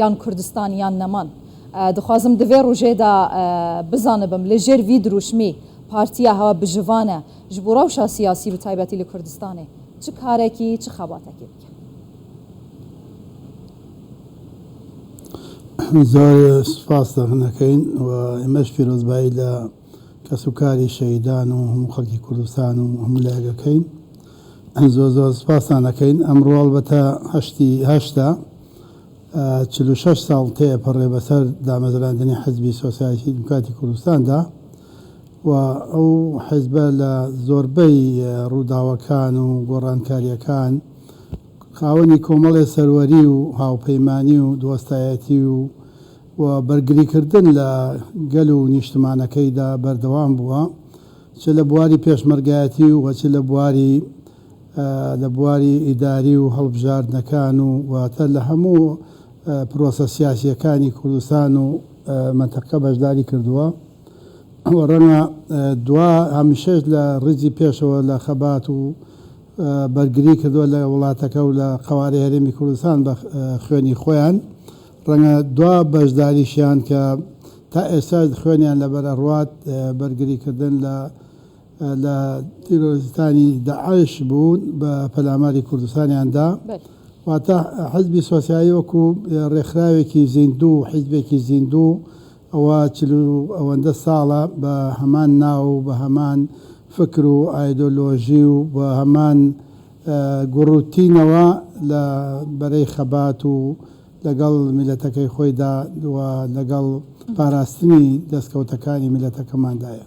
یان کوردستان یان نەمان. دخوازم دڤێ روژێدا بزانبم لە ژێر ڤی دروشمی پارتیە هەوە بژڤانە ژ بو رەوشا سیاسی بە تایبەتی لە کوردستانێ چ کارەکی چ خەباتەکێ بکە. زۆر سوپاس دەغن ئەکەین و ئێمەش پیرۆزبایی لە کەس و کاری شەهیدان و هەموو خەڵکی کوردستان و هەموو لایەک ئەکەین. زۆر زۆر سوپاستان ئەکەین. ئەمڕۆ ئەڵبەتە هەشتی هەشتە. چل و شەش ساڵ تێئەپەڕێ بەسەر دامەزراندنی حزبی سۆسیالیستی دیموکراتی کوردستاندا و ئەو حزبە لە زۆربەی ڕووداوەکان و گۆڕانکارییەکان خاوەنی کۆمەڵێ سەروەری و هاوپەیمانی و دۆستایەتی و و بەرگریکردن لە گەل و نیشتمانەکەیدا بەردەوام بووە چ لە بواری پێشمەرگایەتی و چ لە بواری لە بواری ئیداری و هەڵبژاردنەکان و واتە لە هەموو پرۆسە سیاسییەکانی کوردستان و مەنتەقە بەشداری کردووە و ڕەنگە دوا هەمیشەش لە ڕیزی پێشەوە لە خەبات و بەرگری کردووە لە وڵاتەکە و لە قەوارەی هەرێمی کوردستان بە خوێنی خۆیان ڕەنگە دوا بەشداریشیان کە تا ئێستاش خوێنیان لەبەر ئەڕوات بەرگری کردن لە لە تیرۆریستانی داعش بوون بە پەلاماری کوردستانیان دا واتە حزبی سۆسیالی وەکو رێکخراوێکی زیندوو و حزبێکی زیندوو ئەوە چل و ئەوەندە ساڵە بە هەمان ناو و بە هەمان فکر و ئایدۆلۆژی و بە هەمان گوڕوتینەوە لە بەرەی خەبات و لەگەڵ میللەتەکەی خۆیدا و لەگەڵ پاراستنی دەستکەوتەکانی میللەتەکەماندایە.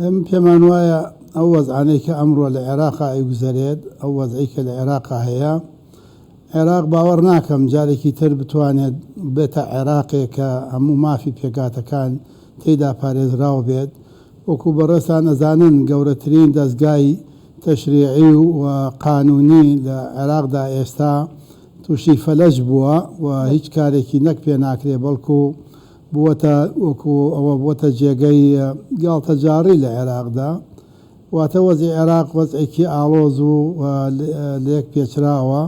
ئێمە پێمان وایە ئەو وەزعانەی کە ئەمڕۆ لە عێراقا ئەیگوزەرێت ئەو وەزعی کە لە عێراقا هەیە عێراق باوەڕ ناکەم جارێکی تر بتوانێت بێتە عێراقێک کە هەموو مافی پێکاتەکان تێدا پارێزراو بێت وەکو بەڕێستان ئەزانن گەورەترین دەستگای تەشریعی و قانونی لە عێراقدا ئێستا تووشی فەلەج بووە و هیچ کارێکی نەک پێ ناکرێ بەڵکو بووەتە وەکو ئەوە بووەتە جێگەی گاڵتەجاڕی لە عێراقدا واتە وەزعی عێراق وەزعێکی ئاڵۆز و لێک پێچراوە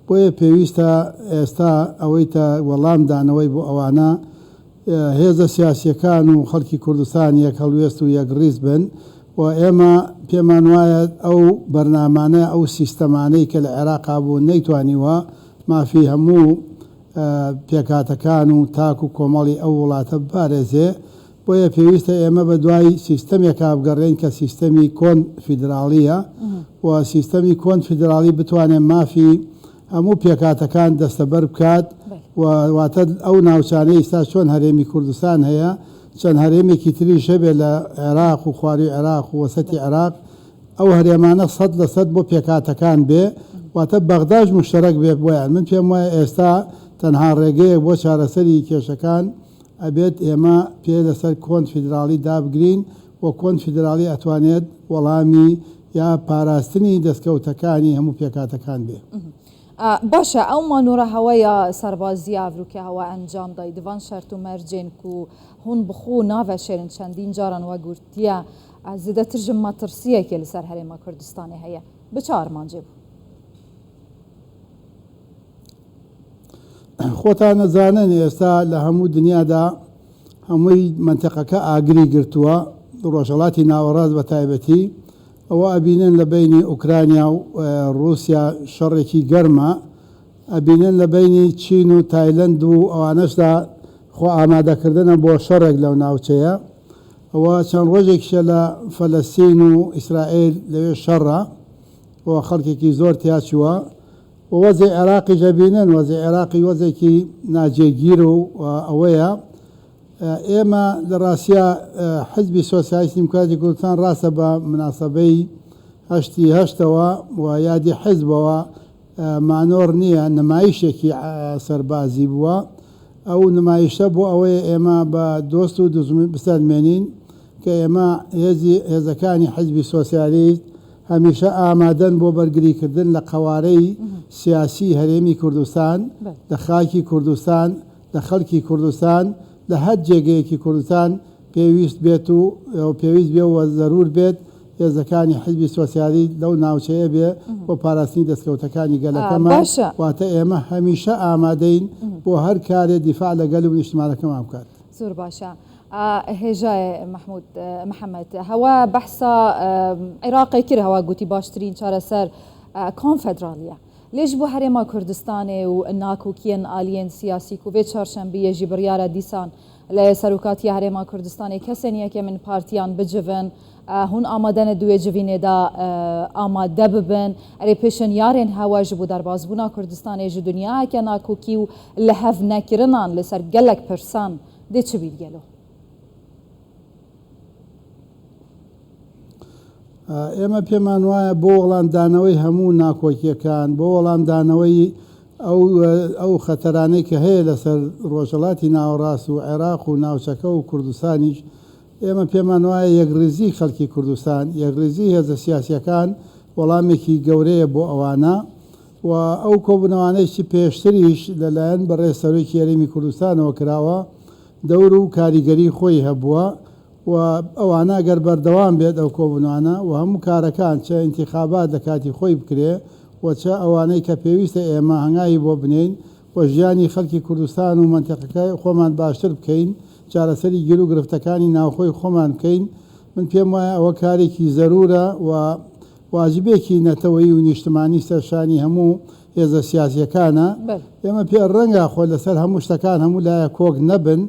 بۆیە پێویستە ئێستا ئەوەی تە وەڵام دانەوەی بۆ ئەوانە هێزە سیاسییەکان و خەڵکی کوردستان یەک هەڵوێست و یەک ڕیز بن و ئێمە پێمان وایە ئەو بەرنامانە ئەو سیستەمانەی کە لە عێراقا بوون نەیتوانیوە مافی هەموو پێکهاتەکان و تاک و کۆمەڵی ئەو وڵاتە بپارێزێ بۆیە پێویستە ئێمە بە دوای سیستەمێکا بگەڕێین کە سیستەمی کۆن فیدراڵییە و سیستەمی کۆن فیدراڵی بتوانێ مافی هەموو پێکهاتەکان دەستەبەر بکات و واتە ئەو ناوچانەی ئیستا چۆن هەرێمی کوردستان هەیە چەند هەرێمێکی تریش هەبێت لە عێراق و خواروی عێراق و وەسەتی عێراق ئەو هەرێمانە سەد لە سەد بۆ پێکهاتەکان بێ واتە بەغداش مشتەرەک بێت بۆیان من پێم وایە ئێستا تەنها ڕێگەیەک بۆ چارەسەری کێشەکان ئەبێت ئێمە پێ لەسەر کۆن فیدراڵی دابگرین و کۆنفیدراڵی ئەتوانێت وەڵامی یا پاراستنی دەستکەوتەکانی هەموو پێکهاتەکان بێ. باشە ئەو مانۆرە هەوەیە سەربازیە ئەڤروکە هەوە ئەنجام دای دڤان شەرت و مەرجێن کو هون بخو ناڤەشێرن چەندین جاران وەگورتیە زێدەتر ژە مەتڕسیەکێ لەسەر هەرێما کوردستانێ هەیە بە چ ئارمانجێ بوو؟ خۆتان ئەزانن ئێستا لە هەموو دنیادا هەمووی مەنتیقەکە ئاگری گرتووە، ڕۆژهەڵاتی ناوەڕاست بە تایبەتی، ئەوە ئەبینن لە بەینی ئوکرانیا و ڕووسیا شەڕێکی گەرمە، ئەبینن لە بەینی چین و تایلەند و ئەوانەشدا خۆ ئامادەکردنە بۆ شەڕێک لەو ناوچەیە، ئەوە چەند ڕۆژێکیشە لە فەلەستین و ئیسرائیل لەوێ شەڕە و خەڵکێکی زۆر تیاچووە، و وەزعی عێراقیش ئەبینن، وەزعی عێراقی وەزعێکی ناجێگیر و ئەوەیە ئێمە لە ڕاستیا حزبی سۆسیالیستی دیموکراتی کوردستان ڕاستە بە مناسەبەی هەشتی هەشتەوە و یادی حزبەوە مانۆڕ نییە، نمایشێکی سەربازی بووە، ئەو نمایشە بۆ ئەوەیە ئێمە بە دۆست و دوژمن بسەلمێنین کە ئێمە هێزی هێزەکانی حزبی سۆسیالیست، هەمیشە ئامادەن بۆ بەرگریکردن لە قەوارەی سیاسیی هەرێمی کوردستان، لە خاکی کوردستان، لە خەڵکی کوردستان، لە هەر جێگەیەکی کوردستان پێویست بێت و پێویست بێ و زەروور بێت، هێزەکانی حیزبی سۆسیالیست لەو ناوچەیە بێ بۆ پاراستنی دەستکەوتەکانی گەلەکەمان، واتە ئێمە هەمیشە ئامادەین بۆ هەر کارێ دیفاع لە گەل و نیشتمانەکەمان بکات. زۆر باشە. ئا هێژای مەحمود محەمەد هەوا بەحسا عێراقی کرد هەوا گوتی باشترین چارەسەر کۆنفدراڵیە. لێژ بۆ هەرێما کوردستانێ و ناکوکیەن ئالیەن سیاسی کو بێ چارشەمبیە ژی بڕیارە دیسان لە سەروکاتیە هەرێما کوردستانێ کەسێن یەکێمن پارتیان بجڤن هون ئامادەنە دوێ جڤینێدا ئامادە ببن ئەرێ پێشنیارێن هەوا ژبو دەربازبونا کوردستانێ ژ دنیاکە ناکوکی و لە هەڤ نەکرنان لە سەر گەلەک پرسان دێ چ بیر گەلۆ. ئێمە پێمان وایە بۆ وەڵامدانەوەی هەموو ناکۆکیەکان بۆ وەڵامدانەوەی ئەو خەتەرانەی کە هەیە لەسەر ڕۆژەڵاتی ناوەڕاست و عێراق و ناوچەکە و کوردستانیش ئێمە پێمان وایە یەکڕیزی خەڵکی کوردستان یەکڕیزی هێزە سیاسیەکان وەڵامێکی گەورەیە بۆ ئەوانە و ئەو کۆبوونەوانەیشی پێشتریش لە لایەن بەڕێز سەرۆکی هەرێمی کوردستانەوە کراوە دەور و کاریگەری خۆی هەبووە و ئەوانە ئەگەر بەردەوام بێت ئەو کۆبوونەوانە و هەموو کارەکان چ ئینتیخابات لە کاتی خۆی بکرێ و چ ئەوانەی کە پێویستە ئێمە هەنگاوی بۆ بنێین و ژیانی خەلکی کوردستان و مەنتیقەکە خۆمان باشتر بکەین چارەسەری گیرو گرفتەکانی ناوخۆی خۆمان بکەین من پێم وایە ئەوە کارێکی زەروورە و واجبێکی نەتەوەیی و نیشتمانی سەرشانی هەموو هێزە سیاسیەکانە، ئێمە پێ ڕەنگە خۆ لەسەر هەموو شتەکان هەموو لایەک کۆک نەبن،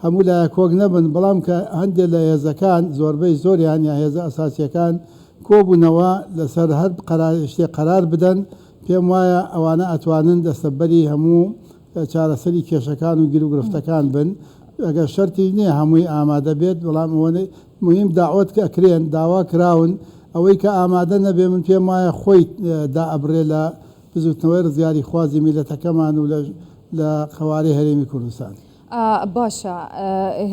هەموو لایەک کۆک نەبن، بەڵام کە هەندێ لە هێزەکان زۆربەی زۆریان یا هێزە ئەساسیەکان کۆبوونەوە لەسەر هەر قەرار شتێک قەرار بدەن، پێم وایە ئەوانە ئەتوانن دەستەبەری هەموو چارەسەری کێشەکان و گیروگرفتەکان بن، ئەگەر شەرتیش نیە هەمووی ئامادە بێت، بەڵام ئەوە موهیم داوەت ئەکرێن داوا کراون ئەوەی کە ئامادە نەبێ من پێم وایە خۆی دا ئەبرێ لە بزوتنەوەی ڕزگاری خوازی میلەتەکەمان و لە لە قەوارەی هەرێمی کوردستان. باشە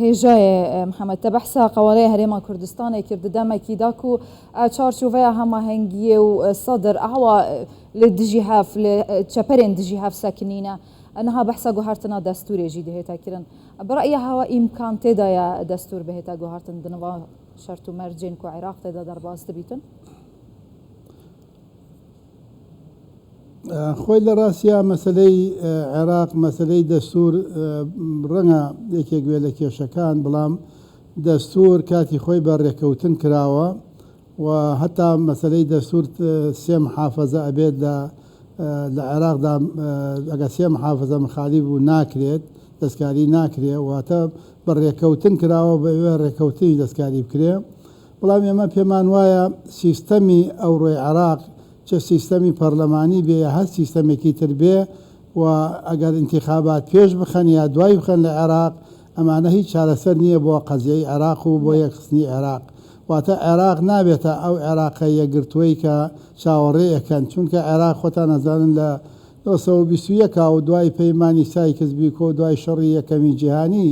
هێژاێ محمد تە بەحسا قەوارەێ هەرێما کوردستانێ کرد دەمەکی داک و چارچوڤەیە هەماهەنگیێ و سەدر ئاوا لێ دژی هەف لێ چەپەرێن دژی هەف سەکنینە ئەنها بەحسا گوهارتنا دەستورێژی دهێتە کرن برای هوا ئیمکان تێدایە دەستوور بهێتە گوهارتن دنوا شەرت و مەرجێن کو عیراق تێدا دەرباست بیتن؟ خۆی لە ڕاستیا مەسەلەی عێراق مەسەلەی دەستور ڕەنگە یەکێک گوێ لە کێشەکان بڵام دەستور کاتی خۆی بە ڕێکەوتن کراوە و هەتا مەسەلەی دەستور سێ محافەزە ئەبێت لە لە عێراقدا ئەگەر سێ محافەزە مخالیف بوو ناکرێت دەستکاری ناکرێ واتە بە ڕێکەوتن کراوە بە ئێوە ڕێکەوتنی دەستکاری بکرێ بەڵام ئێمە پێمان وایە سیستەمی ئەوڕۆی عێراق چە سیستەمی پەرلەمانی بێ یا هەر سیستەمێکی تر بێ و ئەگەر ئینتیخابات پێش بخەن یا دوای بخەن لە عێراق ئەمانە هیچ چارەسەر نیە بۆ قەزیەی عێراق و بۆ یەکخستنی عێراق واتە عێراق نابێتە ئەو عێراقە یەکگرتوەی کە چاوەڕێ ئەکەن چونکە عێراق خۆتان ئەزانن لە نۆ سەد و بیست و یەک و دوای پەیمانی سایکس بیکۆ و دوای شەڕی یەکەمی جیهانی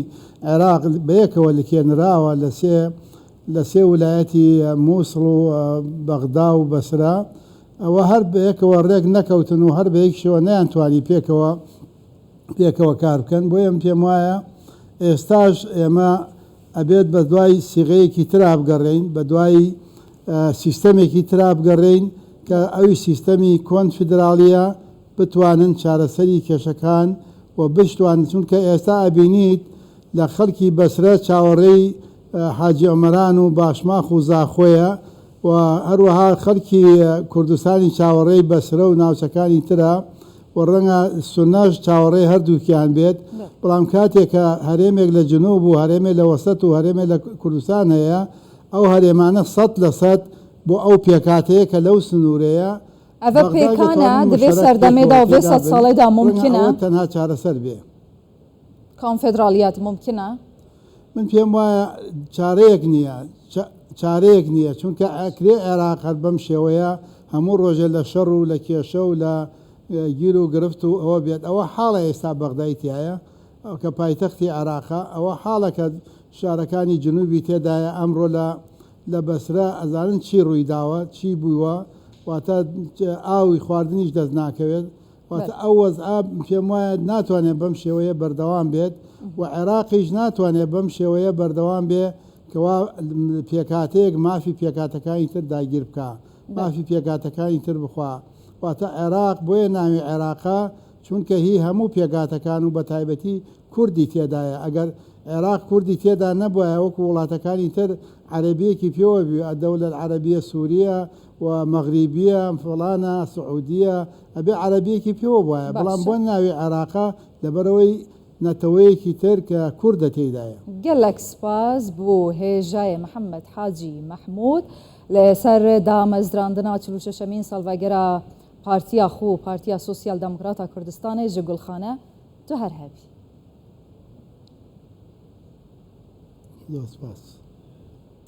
عێراق بەیەکەوە لکێنراوە لە سێ لە سێ ولایەتی موسڵ و بەغدا و بەسرە ئەوە هەر بەیەکەوە ڕێک نەکەوتن و هەر بەیەکشەوە نەیان توانی پێکەوە پێکەوە کار بکەن بۆیە من پێم وایە ئێستاش ئێمە ئەبێت بە دوای سیغەیەکی ترا بگەڕێین بە دوای سیستەمێکی ترا بگەڕێین کە ئەوی سیستەمی کۆنفیدراڵیە بتوانن چارەسەری کێشەکان و بشتوان چونکە ئێستا ئەبینیت لە خەڵکی بەسرە چاوەڕێی حاجی ئۆمەران و باشماخ و زاخۆیە و هەروەها خەڵکی کوردستانی چاوەڕێی بەسرە و ناوچەکانی ترە و ڕەنگە سونناش چاوەڕێی هەردووکیان بێت، بەڵام کاتێک کە هەرێمێک لە جنوب و هەرێمێک لە وەسەت و هەرێمێک لە کوردستان هەیە، ئەو هەرێمانە سەد لە سەد بۆ ئەو پێکهاتەیە کە لەو سنوورەیە، ئەڤ بەغدای پێکانە دەتوانن دڤێ مشتەرەک بێت سەردەمێدا و ڤێ سەد ساڵێدا مومکینە. ڕەنگە ئەوە تەنها چارەسەر بێ. کۆنفێدراڵیەت مومکینە؟ من پێم وایە چارەیەک نییە چارەیەک نییە چونکە ئەکرێ عێراق هەر بەم شێوەیە هەموو ڕۆژێ لە شەڕ و لە کێشە و لە گیر و گرفت و ئەوە بێت ئەوە حاڵە ئێستا بەغدای تایە کە پایتەختی عێراقە ئەوە حاڵە کە شارەکانی جنوبی تێدایە ئەمڕۆ لە لە بەسرە ئەزانن چی ڕووی داوە چی بووە واتە ئاوی خواردنیش دەست ناکەوێت واتە ئەو وەزعە پێموایە ناتوانێت بەم شێوەیە بەردەوام بێت و عێراقیش ناتوانێت بەم شێوەیە بەردەوام بێ کەوا پێکهاتەیەک مافی پێکاتەکانی تر داگیر بکە مافی پێکاتەکانی تر بخوا واتە عێراق بۆیە ناوی عێراقە چونکە هی هەموو پێکاتەکان و بە تایبەتی کوردی تێدایە ئەگەر عێراق کوردی تێدا نەبووە وەکو وڵاتەکانی تر عەربیەکی پێوە بوو ئەدەولە عەربیە سووریە و مەغریبیە فڵانە سعودیە ئەبێ عەرەبیەکی پێوە بوایە بەڵام بۆ ناوی عێراقە لەبەرئەوەی نەتەوەیەکی تر کە کوردە تێدایە. گەلەک سپاس بو هێژای محمد حاجی محمود لە سەر دامەزراندنا چل و شەشەمین سالڤەگەرا پارتیا خو پارتیا سوسیال دمکراتا کوردستانێ ژە گولخانە تو هەر هەبی. زۆر سپاس.